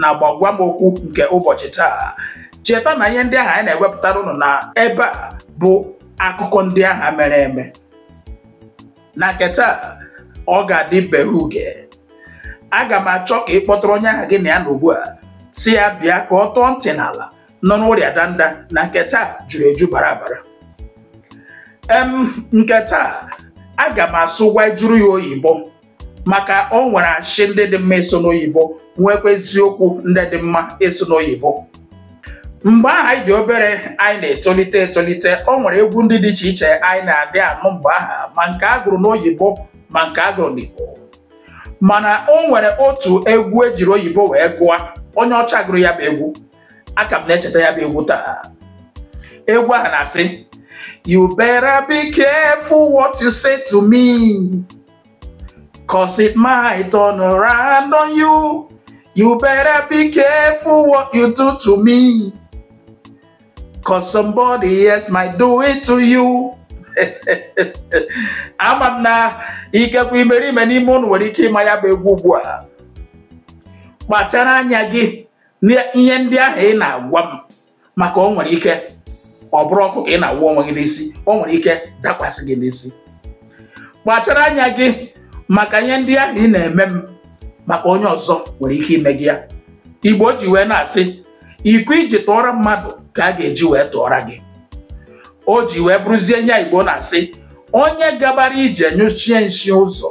na gbagwamokwu nke ụbọchị taa cheta na ihe ndị ahụ anyị na-ewepụtara ụnụ na ebe a bụ akụkọ ndị aha mere eme na nke taa ọ ga-adị be huge aga m achọ ka ị kpọtụrụ onye ahụ gị na ya nọ ugbu a sị ya bịa ka ọ tọọ ntị n'ala nọ n'ụrịa danda na nke taa juru eju bara abara em nke taa aga m asụgwajuru ya oyibo maka o nwere ashị ndị dị mma ịsụ n'oyibo nwekwa eziokwu ndị dị mma ịsụ n'oyibo mgbe ahụ anyị dị obere anyị na-etolite etolite o nwere egwu ndị dị iche iche anyị na-adị anụ mgbe aha ma nke a gụrụ n'oyibo ma nke a gụrụ n'igbo mana o nwere otu egwu e jiri oyibo wee gụọ onye ọcha gụrụ ya bụ egwu aka m na-echeta ya bụ egwu taa egwu ahụ na-asị you better be careful what you say to me Cause it might turn around on you. You better be careful what you do to me. Cause somebody else might do it to you. ama m na ikekwe imerime n'ime unu nwere ike ịma ya bụ egwu ugbu a kpachara anya gị n'ihe ndị ahụ ị na-agwa m maka o nwere ike ọ bụrụ ọkụ ka ị na-awụ onwe gị n'isi o nwere ike dakwasị gị n'isi kpachara anya gị maka ihe ndị ahụ ị na-eme m maka onye ọzọ nwere ike ime gị ya igbo ji wee na-asị iko i ji tụọra mmadụ ka a ga-eji wee tụọra gị o ji wee bụrụzie ihe a igbo na-asị onye gabara ije nyụchie nshị ụzọ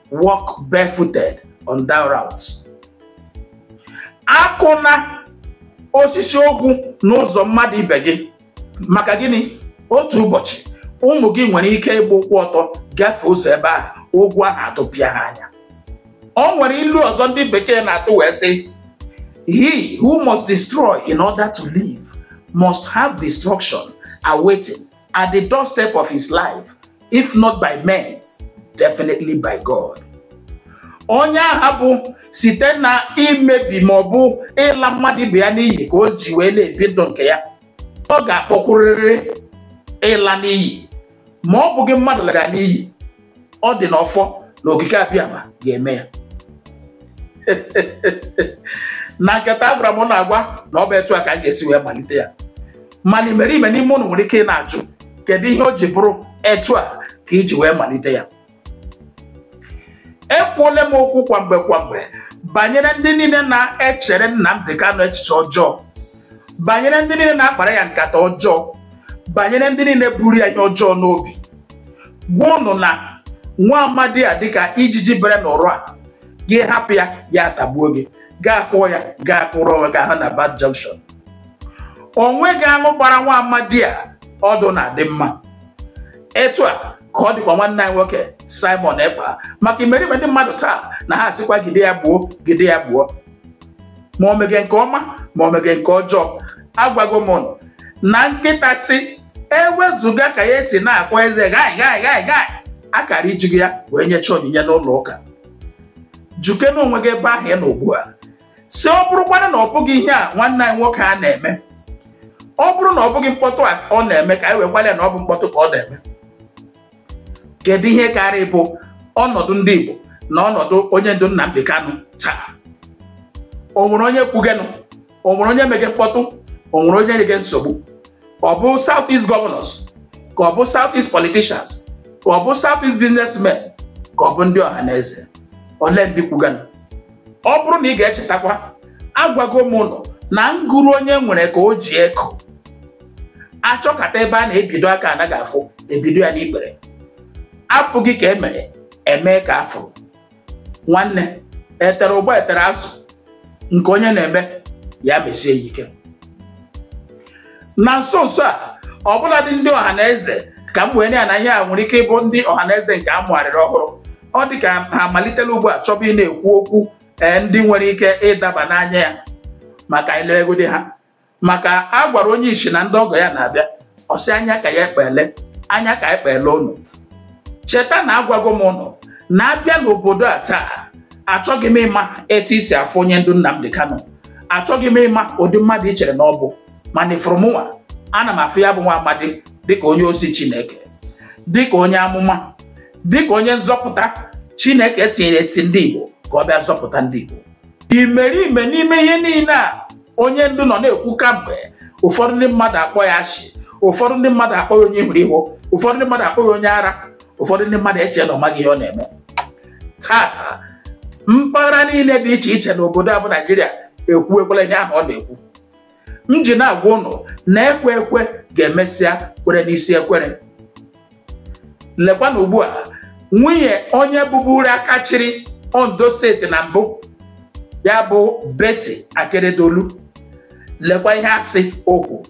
walk barefooted on that route akụna osisi ogwu n'ụzọ mmadụ ibe gị maka gịnị otu ụbọchị ụmụ gị nwere ike ịgba ụkwụ ọtọ gafee ụzọ ebe ahụ ogwu ahụ atụpịa ha anya o nwere ilu ọzọ ndị bekee na-atụ wee sị he who must destroy in order to live must have destruction awaiting at the doorstep of his life, if not by men, definitely by God. onye aha bụ site na imebi ma ọ bụ ịla mmadụ ibe ya n'iyi ka o ji wee na-ebi ndụ nke ya ọ ga-akpọkwurịrị ịla n'iyi ma ọ bụghị mmadụ lara ya n'iyi ọ dị n'ọfọ na okike abịama ga-eme ya na nke taa agwara m na-agwa na ọ bụ etu a ka m ga-esi wee malite ya mana imerime n'ime ụnụ nwere ike ị na-ajụ kedu ihe o ji bụrụ etu a ka i ji wee malite ya ekwuole m okwu kwamgbe kwamgbe banyere ndị niile na-echere Nnamdi Kanu echiche ọjọọ banyere ndị niile na-akpara ya nkata ọjọọ banyere ndị niile buru ya ihe ọjọọ n'obi gwa ụnụ na nwa amadi a dịka ijiji bere n'ụrụ a gị hapụ ya ya atagbuo gị gaa kụọ ya gaa kụrụ onwe gị ahụ na bad junction o nweghị aṅụ gbara nwa amadi a ọdụ na-adị mma etu a ka ọ dịkwa nwanne anyị nwoke Simon Ekpa maka imerime ndị mmadụ taa na ha asịkwa gide ya gbuo gide ya gbuo ma o mege nke ọma ma o mege nke ọjọọ agwago m na nkịta sị ewezuga ka ya esi na-akwa eze gai gai gai gai a kara ijigo ya wee nyecha onyinye n'ụlọ ụka jụkene onwe gị ebe ahụ ị nọ ugbu a sị ọ bụrụkwanụ na ọ bụghị ihe a nwanne anyị nwoke a na-eme ọ bụrụ na ọ bụghị mkpọtụ a ọ na-eme ka anyị wekwala ya na ọ bụ mkpọtụ ka ọ na-eme kedu ihe kara ịbụ ọnọdụ ndị Igbo na ọnọdụ onye ndu Nnamdi Kanu taa o nwere onye kwugenụ o nwere onye mege mkpọtụ o nwere onye nyege nsogbu ọ bụ south east governors ka ọ bụ south east politicians ka ọ bụ south east businessmen ka ọ bụ ndị ọha na eze olee ndị kwugenụ ọ bụrụ na ị ga-echetakwa agwago m ụnụ na ngụrụ onye nwere ka o ji eko a chọkata ebe a na-ebido aka anaghị afụ e bido ya n'ikpere afụghị ka e mere e mee ka a fụ nwanne e tere ụgba e tere azụ nke onye na-eme ya mesie ya ike na nso nso a ọbụladị ndị ọha na eze ka m wee na na ihe a nwere ike ịbụ ndị ọha na eze nke a mụgharịrị ọhụrụ ọ dị ka ha amalitela ugbu a chọba ịna-ekwu okwu ee ndị nwere ike ịdaba n'anya ya ma ka anyị legodi ha maka a gwara onye isi na ndị ọgọ ya na-abịa ọ sị anya ka ya ekpele anya ka ekpele ụnụ cheta na agwago m ụnụ na a bịa n'obodo a taa achọghị m ịma etu i si afụ onye ndu Nnamdi Kanu achọghị m ịma ụdị mmadụ i chere na ọ bụ mana ị fụrụ mụnwa ana m afụ ya bụ nwa amadi dịka onye ozi Chineke dịka onye amụma dịka onye nzọpụta Chineke tinyere eti ndị Igbo ka ọ bịa zọpụta ndị Igbo imerime n'ime ihe niile a onye ndu nọ na-ekwu kamgbe ụfọdụ ndị mmadụ akpọ ya ashị ụfọdụ ndị mmadụ akpọ ya onye ihuru ihu ụfọdụ ndị mmadụ akpọ ya onye ara ụfọdụ ndị mmadụ eche na ọ maghị ihe ọ na-eme taata mpaghara niile dị iche iche n'obodo a bụ Naịjirịa ekwuwekwala ihe ahụ ọ na-ekwu m ji na-agwa ụnụ na ekwe ekwe ga-emesịa kwere n'isi ekwere lekwanụ ugbu a nwunye onye bụburu aka chịrị Ondo steeti na mbụ ya bụ Betty Akeredolu lekwa ihe a sị o kwu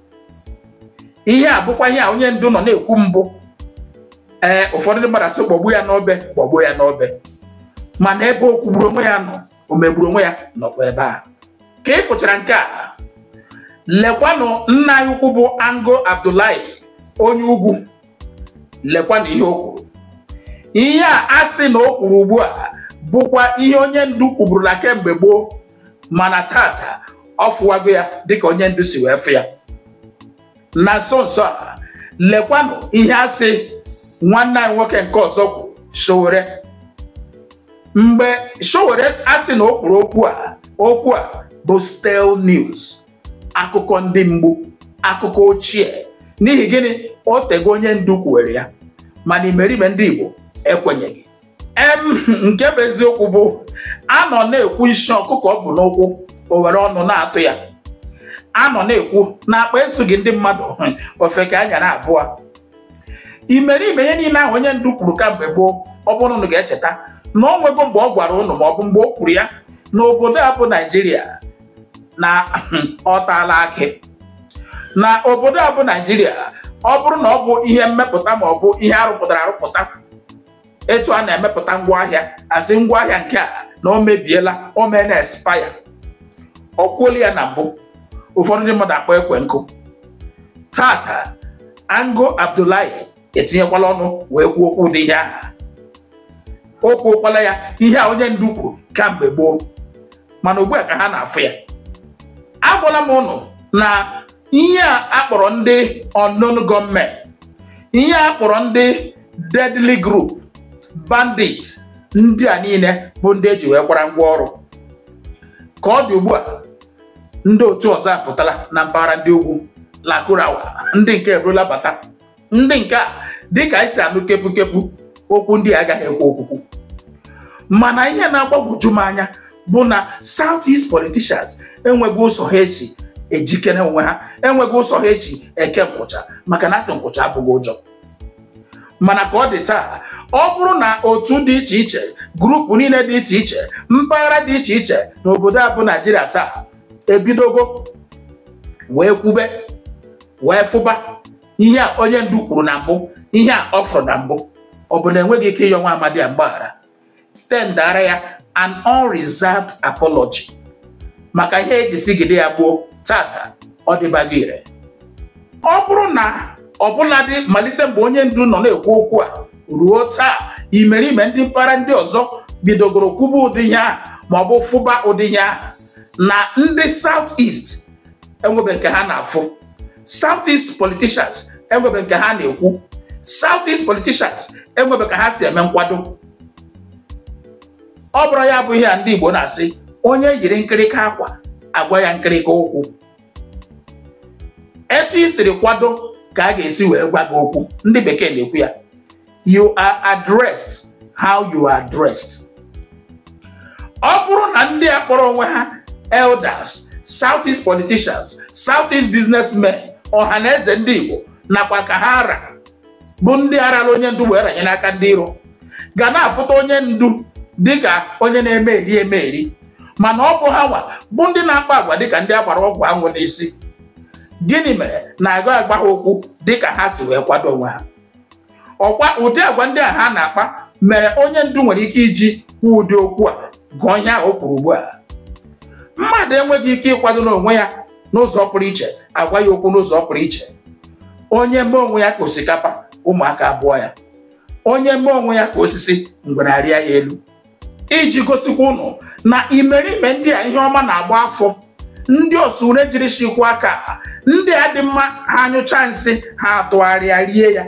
ihe a bụkwa ihe a onye ndu nọ na-ekwu mbụ ee ụfọdụ ndị mmadụ asị kpọgbu ya n'obe kpọgbu ya n'obe mana ebe okwu gburu onwe ya nọ o megburu onwe ya nọkwa ebe a ka ị fụchara nke a lekwanụ nna anyị ukwu bụ ango abdullahi onye ugwu lekwanụ ihe o kwuru ihe a a sị na o kwuru ugbu a bụkwa ihe onye ndu kwuburula kemgbe gboo mana tata ọ fụwago ya dịka onye ndu si wee fụ ya na nso nso a lekwanụ ihe a sị nwanne anyị nwoke nke ọzọ kwuru Sowore mgbe Sowore a sị na o kwuru okwu a bụ stale news akụkọ ndị mgbu akụkọ ochie n'ihi gịnị o tego onye ndu kwuwere ya mana imerime ndị Igbo ekwenyeghị em nke bụ eziokwu bụ a nọ na-ekwu nsị ọkụkọ o bu n'ụkwụ o were ọnụ na-atụ ya a nọ na-ekwu na akpa ezughị ndị mmadụ ofeke anyara abụọ imerime ihe niile ahụ onye ndu kwuru kamgbe gboo ọ bụrụ na ụnụ ga-echeta na o nwego mgbe ọ gwara ụnụ ma ọ bụ mgbe o kwuru ya na obodo a bụ naijiria na ọ taala akị na obodo a bụ naijiria ọ bụrụ na ọ bụ ihe mmepụta ma ọ bụ ihe arụpụtara arụpụta etu a na-emepụta ngwaahịa asị ngwaahịa nke a na o mebiela o meena expire o kwuola ya na mbụ ụfọdụ ndị mmadụ akpọ ekwe nkụ tata ango abdullahi etinyekwala ọnụ wee kwuo okwu ụdị ihe aha o kwuokwala ya ihe a onye ndu kwuru kamgbe gboo mana ugbu a ka ha na-afụ ya agwala m ụnụ na ihe a kpọrọ ndị unknown gunmen ihe a kpọrọ ndị deadly group bandit ndị a niile bụ ndị eji wee kwara ngwa ọrụ ka ọ dị ugbu a ndị otu ọzọ apụtala na mpaghara ndị ugwu lakurawa ndị nke eburula bata ndị nke a dịka anyị si anụ kepụkepụ okwu ndị agaghị ekwu okwukwu mana ihe na-agbagwoju m anya bụ na South East politicians enweghị ụzọ ha esi ejikere onwe ha enweghị ụzọ ha esi eke nkwụcha maka na asị nkwụcha abụghị ụjọ mana ka ọ dị taa ọ bụrụ na otu dị iche iche group niile dị iche iche mpaghara dị iche iche na obodo a bụ naijiria taa ebidogo wee kwube wee fụba ihe a onye ndu kwuru na mbụ ihe a ọ fụrụ na mbụ ọ bụ na enweghị ike ịyọ nwa amadi a mgbaghara tendara ya an unreserved apology maka ihe eji sigide ya gboo tata ọ dịbago ire ọ bụrụ na ọbụladị malite mgbe onye ndu nọ na-ekwu okwu a ruo taa imerime ndị mpaghara ndị ọzọ bidogoro kwuba ụdị ihe ahụ ma ọ bụ fụba ụdị ihe ahụ na ndị South East enwebe nke ha na-afụ south east politicians enwebe nke ha na-ekwu south east politicians enwebe ka ha si eme nkwado ọ bụrụ ya bụ ihe a ndị Igbo na-asị onye yiri nkịrịka akwa agwa ya nkịrịka okwu etu i siri kwado ka a ga-esi wee gwa gị okwu ndị bekee na-ekwu ya you are addressed how you are dressed ọ bụrụ na ndị a kpọrọ onwe ha elders southeast politicians southeast businessmen ọhanaeze ndị igbo nakwa ka ha ra bụ ndị arala onye ndu wee ranye n'aka ndị iro ga na-afụta onye ndu dịka onye na-eme eri eme eri mana ọ bụ ha nwa bụ ndị na-akpa agwa dịka ndị a gbara ọgwụ anwụ n'isi gịnị mere na agaghị agwa ha okwu dịka ha si wee kwado onwe ha ọkwa ụdị agwa ndị a ha na-akpa mere onye ndu nwere ike iji kwuo ụdị okwu a gụọ ihe ahụ o kwuru ugbu a mmadụ enweghị ike ịkwado n'onwe ya n'ụzọ pụrụ iche agwa ya okwu n'ụzọ pụrụ iche onye mee onwe ya ka osikapa ụmụaka abụọ ya onye mee onwe ya ka osisi ngwere arịa ya elu iji gosikwa ụnụ na imerime ndị a ihe ọma na-agba afọ ndị ọsụ ure jiri shikwa aka ndị a dị mma ha anyụcha nsị ha atụgharịa rie ya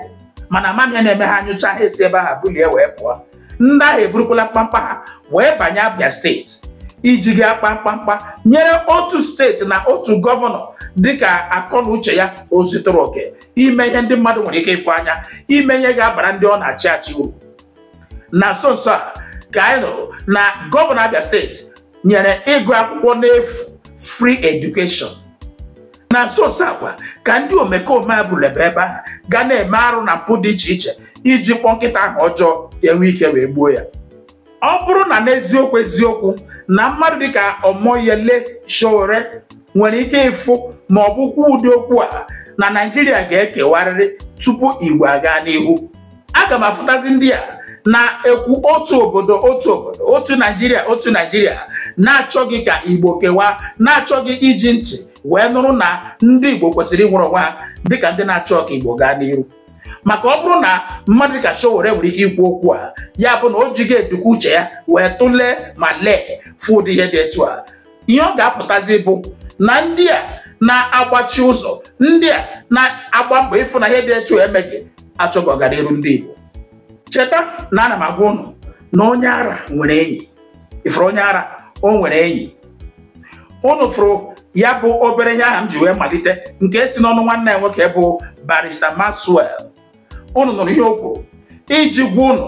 mana amamihe na-eme ha anyụcha ha esi ebe ahụ bulie wee pụọ ndị ahụ eburukwala mkpamkpa ha wee banye Abia steeti iji gaa kpaa mkpamkpa nyere otu steeti na otu gọvanọ dịka akọ na uche ya o zutere oke ime ihe ndị mmadụ nwere ike ịfụ anya ime ihe ga-abara ndị ọ na-achị achị uru na nso nso a ka anyị nụrụ na gọvanọ Abia steeti nyere ịgụ akwụkwọ n'efu free education na nso nso a kwa ka ndị omekome a bụlebe ebe ahụ ga na-eme arụ na mpụ dị iche iche iji kpọọ nkịta aha ọjọọ enwe ike wee gbuo ya ọ bụrụ na n'eziokwu eziokwu na mmadụ dịka Omoyele Sowore nwere ike ịfụ ma ọ bụ kwuo ụdị okwu a na Naịjirịa ga-ekewarịrị tupu Igbo agaa n'ihu aga m afụtazi ndị a na-ekwu otu obodo otu obodo otu naijiria otu naijiria na-achọghị ka igbo kewaa na-achọghị iji ntị wee nụrụ na ndị igbo kwesịrị inwere onwe ha dịka ndị na-achọ ka igbo gaa n'iru maka ọ bụrụ na mmadụ dịka Sowore nwere ike ikwu okwu a ya bụ na o jighị eduku uche ya wee tụlee ma lee fụ ụdị ihe dị etu a ihe ọ ga-apụtazi bụ na ndị a na-agbachi ụzọ ndị a na-agba mbọ ịfụ na ihe dị etu emeghị achọghị ọganiru ndị Igbo cheta na ana m agwa ụnụ na onye ara nwere enyi ị fụrụ onye ara o nwere enyi ụnụ fụrụ ya bụ obere ihe aha m ji wee malite nke si n'ọnụ nwanne anyị nwoke bụ barista Maxwell ụnụ nụrụ ihe o kwuru iji gwa ụnụ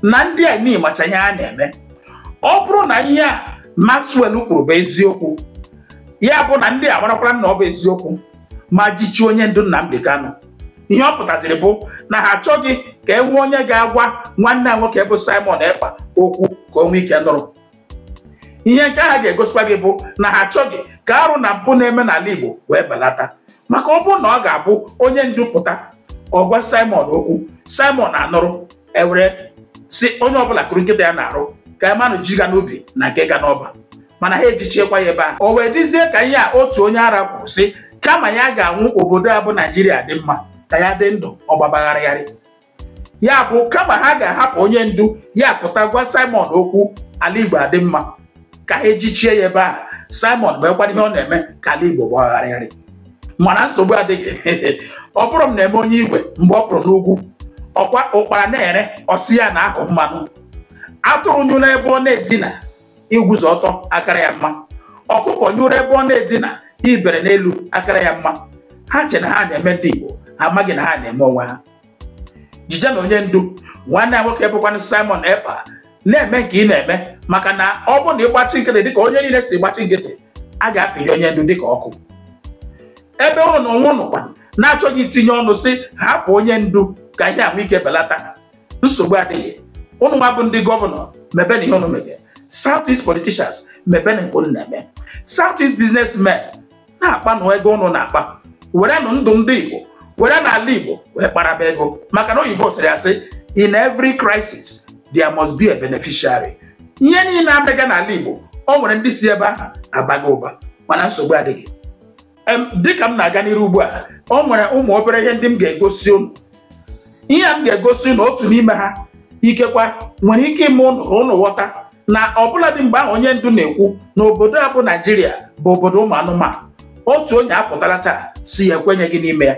na ndị a niile macha ihe a na-eme ọ bụrụ na ihe a Maxwell kwuru bụ eziokwu ya bụ na ndị a marakwara na ọ bụ eziokwu ma jichi onye ndu Nnamdi Kanu ihe ọ pụtaziri bụ na ha achọghị ka e nwee onye ga-agwa nwanne anyị nwoke bụ Simon Ekpa okwu ka o nwee ike nụrụ ihe nke ahụ ga-egosikwa gị bụ na ha achọghị ka arụ na mpụ na-eme n'ala Igbo wee belata maka ọ bụrụ na ọ ga-abụ onye ndu pụta ọ gwa Simon okwu Simon anụrụ e were sị onye ọbụla kuru nkịta ya n'arụ ka a manụ ji ga n'ubi na nke ga n'ọba mana ha ejichiekwa ya ebe ahụ o wee dịzie ka ihe a otu onye ara kwuru sị kama ya ga-anwụ obodo a bụ Naijiria dị mma ka ya dị ndụ ọ gbaba gharịgharị ya bụ kama ha ga-ahapụ onye ndu ya pụta gwa Simon okwu ala Igbo adị mma ka ha ejichie ya ebe ahụ Simon meekwanụ ihe ọ na-eme ka ala Igbo gbaa gharịgharị mana nsogbu adịghị ọ bụrụ m na-eme onye igwe mgbe ọ pụrụ n'ugwu ọkwa ụkpara na-ere ọ sị ya na-aha mmanụ atụrụ nyụrụ ebe ọ na-edina iguzo ọtọ akara ya mma ọkụkọ nyụrụ ebe ọ na-edina ibere n'elu akara ya mma ha che na ha na-eme ndị Igbo ha amaghị na ha na-eme onwe ha jije nụ onye ndu nwanne ya nwoke bụkwanụ Simon Ekpa na-eme nke ị na-eme maka na ọ bụrụ na ị gbachi nkịtị dịka onye niile si gbachi nkịtị a ga-apịnyụ onye ndu dịka ọkụ ebe ụnụ n'onwe ụnụkwa na-achọghị itinye ọnụ sị hapụ onye ndu ka ihe a nwee ike belata nsogbu adịghị ụnụ nwa bụ ndị gọvanọ mebe nụ ihe ụnụ mege South East politicians mebe nụ nke ụnụ na-eme South East businessmen na-akpa nụ ego ụnụ na-akpa were nụ ndụ ndị igbo were nụ ala igbo wee kparaba ego maka na oyibo sịrị asị in every crisis there must be a beneficiary ihe niile a mega n'ala igbo o nwere ndị si ebe ahụ abaga ụba mana nsogbu adịghị dịka m na-aga n'iru ugbu a o nwere ụmụ obere ihe ndị m ga-egosi unu ihe m ga-egosi unu otu n'ime ha ikekwa nwere ike ime ụnụ ka ụnụ ghọta na ọbụladị mgbe ahụ onye ndu na-ekwu na obodo a bụ naijiria bụ obodo ụmụ anụmanụ otu onye apụtala taa sị ya ekwenyeghị n'ime ya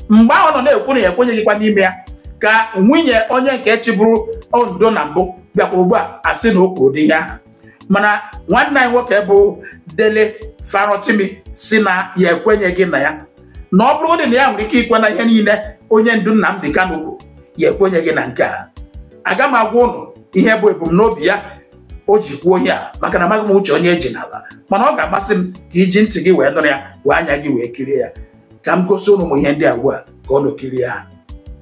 mgbe ahụ na ọ na-ekwu na ya ekwenyeghịkwa n'ime ya ka nwunye onye nke chịburu ondo na mbụ bịakwara ugbu a asị na o kwuru dị ihe ahụ mana nwanne anyị nwoke bụ dele farotimi sị na ya ekwenyeghị na ya na ọ bụrụ dị na ya nwere ike ikwe na ihe niile onye ndu Nnamdi Kanu kwuru ya ekwenyeghị na nke a aga m agwa ụnụ ihe bụ ebumnobi ya o ji kwuo ihe a maka na amaghị m uche onye eji n'ala mana ọ ga-amasị m ka i ji ntị gị wee nụrụ ya were anya gị wee kirie ya ka m gosi ụnụ ụmụ ihe ndị a ugbu a ka ụnụ kirie ha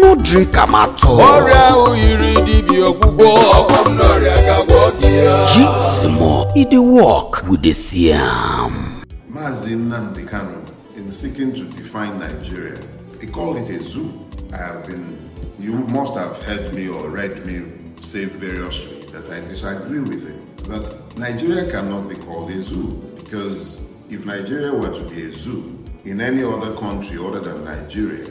no drink am at all. ọrịa ahụ yiri dibịa ọgwụgwọ ọgwọ m n'ọrịa ka gwọ gị ya Jig small, e dey work, we dey see am. Mazi Nnamdi Kanu, in seeking to define Nigeria, he called it a zoo. I have been, you must have heard me or read me say variously that I disagree with him. That Nigeria cannot be called a zoo because if Nigeria were to be a zoo in any other country other than Nigeria,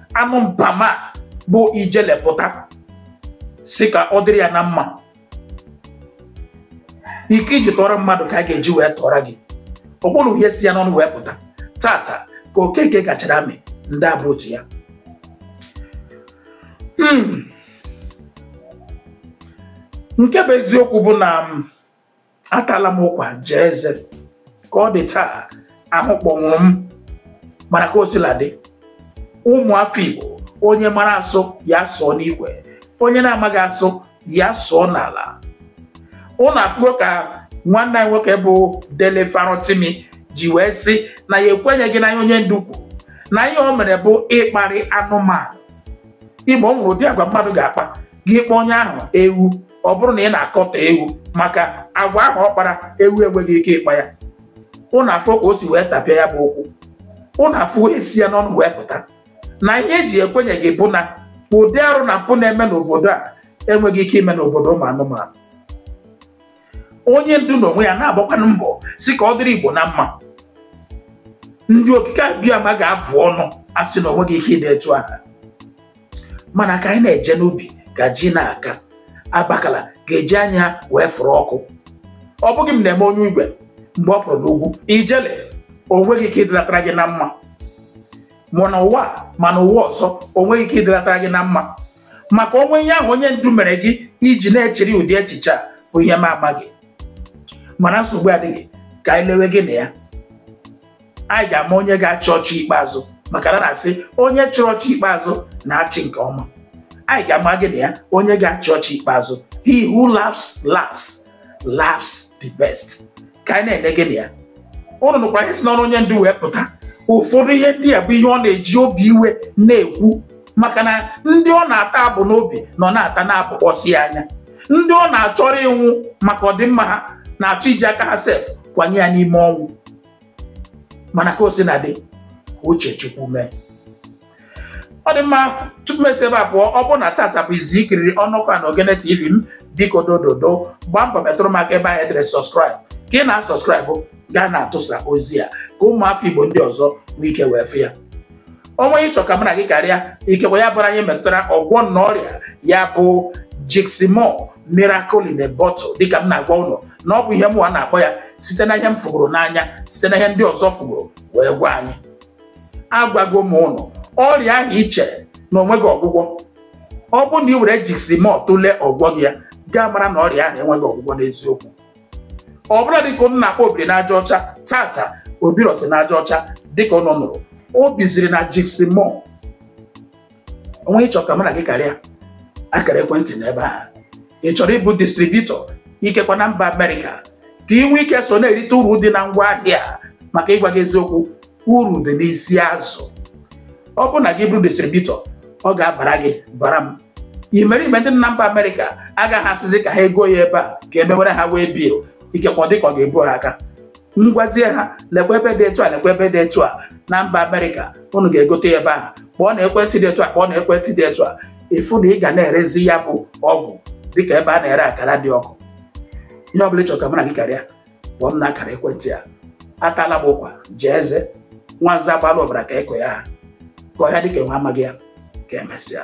anụ mpama bụ ijele pụta sị ka ọ dịrị ya na mma iko eji tụọrọ mmadụ ka a ga-eji wee tụọrọ gị ọ bụrụ ihe si ya n'ọnụ wee pụta tata ka okeke gachara amị ndị abụ otu ya hmm. nke bụ eziokwu bụ na atala m ụkwa jaa eze ka ọ dị taa ahụ kpọnwụrụ m mana ka o sila dị ụmụ afọ Igbo onye mara asụ ya sụọ n'ikwe onye na-amaghị asụ ya sụọ n'ala ụnụ afụgo ka nwanne anyị nwoke bụ Dele Farotimi ji wee sị na ya ekwenyeghị na ihe onye ndu kwuru na ihe o mere bụ ịkparị anụmanụ ị ma o nwere ụdị agwa mmadụ ga-akpa gị kpọọ onye ahụ ewu ọ bụrụ na ị na-akọtọ ewu maka agwa ahụ ọ kpara ewu enweghị ike ịkpa ya ụnụ afụọ ka o si wee tapịa ya bụ okwu ụnụ afụọ ihe si ya n'ọnụ wee pụta na ihe eji ekwenyeghị bụ na ụdị arụ na mpụ na-eme n'obodo a enweghị ike ime n'obodo ụmụ anụmanụ onye ndu na onwe ya na-agbakwanụ mbọ sị ka ọ dịrị Igbo na mma ndị okike abịama ga-abụ ọnụ asị na onweghị ike ịdị etu aha mana ka anyị na-eje n'ubi ka ji na-aka abakala ga-eji anya ha wee fụrụ ọkụ ọ bụghị m na-eme onye igwe mgbe ọ pụrụ n'ugwu ijele o nweghị ike ịdịlatara gị na mma ma n'ụwa a, ma n'ụwa ọzọ o nweghị ike ịdịlatara gị na mma maka o nwe ihe ahụ onye ndu mere gị i ji na-echiri ụdị echiche a bụ ihe m amaghị mana nsogbu adịghị ka anyị lewe gị na ya anyị ga-ama onye ga-achị ọchị ikpeazụ maka na a na-asị onye chịrị ọchị ikpeazụ na-achị nke ọma anyị ga-ama gị na ya onye ga-achị ọchị ikpeazụ he who laughs last laughs the best ka anyị na-ene gị na ya ụnụ nụkwa ihe si n'ọnụ onye ndu wee pụta ụfọdụ ihe ndị a bụ ihe ọ na-eji obi iwe na-ekwu maka na ndị ọ na-ata abụ n'obi nọ na-ata na-abụkpọsi ya anya ndị ọ na-achọrọ ịnwụ maka ọdịmma ha na-achọ iji aka ha sef kwanye ya n'ime ọnwụ mana ka o sina dị uche chukwu mee ọ dị mma tupu m esi ebe a pụọ ọ bụrụ na tata bụ izizi ikiriri ọnọkọ na ogene tv m biko dododo gbaa mbọ metụrụ m aka ebe ahụ edere sọskraịb ka ị na-asọskraịbụ gaa na-atụsa ozi a ka ụmụafọ igbo ndị ọzọ nwee ike wee fụ ya o nwee ihe ị chọ ka mụ na gị karịa ikekwe ya bụrụ ihe metụtara ọgwọ nnụ ọrịa ya bụ jigsimur miracle in a bottle dịka m na-agwa ụnụ na ọ bụ ihe mụwa na-akpọ ya site na ihe m fụgoro n'anya site na ihe ndị ọzọ fụgoro wee gwa anyị agwago m ụnụ ọrịa ahụ i chere na o nweghị ọgwụgwọ ọ bụrụ na ị were jigsimur tụlee ọ gwọghị ya gaa mara na ọrịa ahụ enweghị ọgwụgwọ n'eziokwu ọ bụrụ na dịka ụnụ na-akpọ obiri n'aja ọcha taata o birọzi n'aja ọcha dịka ụnụ nụrụ o biziri na jigsimur o nwee ihe ị chọ ka mụ na gị karịa akara ekwentị n'ebe a ị chọrọ ịbụ distributor ikekwa na mba amerịka ka ị nwee ike so na-erite uru dị na ngwa ahịa maka ịgwa gị eziokwu uru dị n'isi azụ ọ bụrụ na gị bụrụ distributor ọ ga-abara gị bara m imerime ndị na mba amerịka agaghị asịzi ka ha ego ya ebe a ka e mewere ha waybill ikekwa dịka ọ ga-ebu ha aka m gwazie ha lekwa ebe dị etu a lekwa ebe dị etu a na mba amerịka unu ga-egote ya ebe ahụ kpọọ na ekwentị dị etu a kpọọ na ekwentị dị etu a ị fụ na ị ga na-erezi ya bụ ọgwụ dịka ebe a na-ere akara dị ọkụ ihe ọ bụla ị chọrọ ka mụ na gị karịa kpọọ m na akara ekwentị a atala m ụkwa jaa eze nwa nza gbaala ọbara ka eko ya ha ka ọhịa dịka enwe amaghị ya ka e mesịa